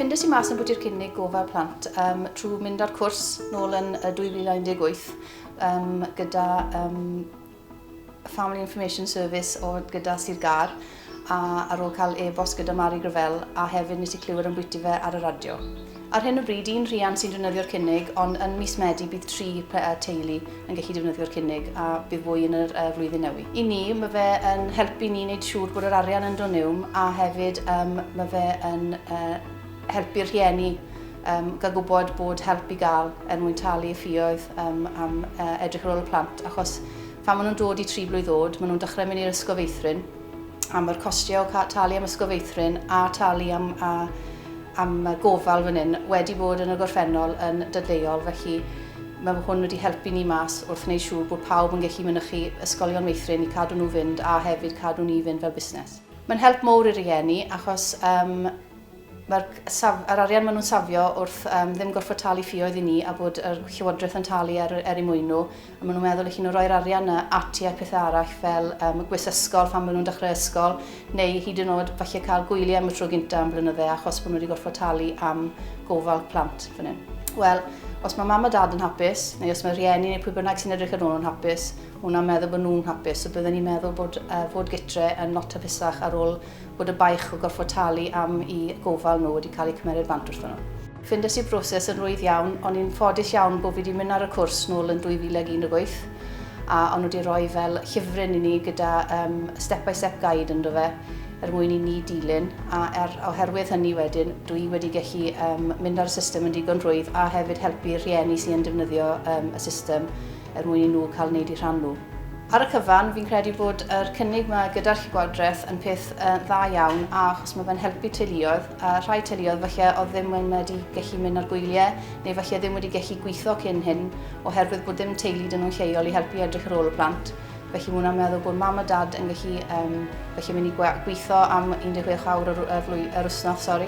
Ffindes i mas yn bwyty'r cynnig gofal plant um, trwy mynd ar cwrs nôl yn 2018 um, gyda um, Family Information Service o gyda Sir Gar. a ar ôl cael e-bost gyda Mari Gravell a hefyd nes i clywed ambwyti fe ar y radio. Ar hyn o bryd un rhiant sy'n defnyddio'r cynnig ond yn mis Medi bydd tri teulu yn gallu defnyddio'r cynnig a bydd fwy yn yr uh, flwyddyn newydd. I ni mae fe yn helpu ni wneud siŵr bod yr arian yn dod niwm a hefyd um, mae fe yn uh, helpu'r rhieni um, gael gwybod bod help i gael er mwyn talu y ffioedd um, am uh, edrych ar ôl y plant achos Pan maen nhw'n dod i tri blwydd oed, maen nhw'n dechrau mynd i'r ysgol feithrin, a mae'r costiau o ca- talu am ysgol feithrin a talu am, a, am y gofal fan hyn wedi bod yn y gorffennol yn dadleuol, felly mae hwn wedi helpu ni mas wrth wneud siŵr bod pawb yn gallu mynychu ysgolion meithrin i cadw nhw fynd a hefyd cadw ni fynd fel busnes. Mae'n help mowr i rieni achos um, Mae'r saf, yr arian maen nhw'n safio wrth um, ddim gorfod talu ffioedd i ni a bod yr Llywodraeth yn talu er, er i mwyn nhw. A maen nhw'n meddwl eich nhw roi'r arian yna ati a pethau arall fel um, gwis ysgol phan maen nhw'n dechrau ysgol neu hyd yn oed falle cael gwyliau am y tro gyntaf am blynydde achos bod nhw wedi gorfod talu am gofal plant fan hyn. Wel, os mae mam a dad yn hapus, neu os mae rhieni neu pwy bynnag sy'n edrych yn ôl yn hapus, hwnna'n meddwl bod nhw'n hapus, so byddwn ni'n meddwl bod uh, fod gytre yn lot hapusach ar ôl bod y baich o gorfod talu am i gofal nhw wedi cael eu cymeryd fant wrthon nhw. Ffindes i'r broses yn rwydd iawn, o'n i'n ffodus iawn bod fi wedi mynd ar y cwrs nôl yn 2018 a o'n nhw wedi rhoi fel llyfryn i ni gyda um, step by step guide ynddo fe er mwyn i ni dilyn a er, oherwydd hynny wedyn dwi wedi gallu um, mynd ar y system yn digon rhwydd a hefyd helpu rhieni sy'n defnyddio um, y system er mwyn i nhw cael wneud eu rhan nhw. Ar y cyfan, fi'n credu bod yr cynnig ma gyda'r llygodraeth yn peth uh, dda iawn a achos mae fe'n helpu teuluoedd a rhai teuluoedd falle oedd ddim wedi gallu mynd ar gwyliau neu falle ddim wedi gallu gweithio cyn hyn oherwydd bod dim teulu dyn nhw'n lleol i helpu edrych ar ôl y plant. Felly mae hwnna'n meddwl bod mam a dad yn gallu um, felly mynd i gweithio am 16 awr yr, yr, yr wythnos, sori,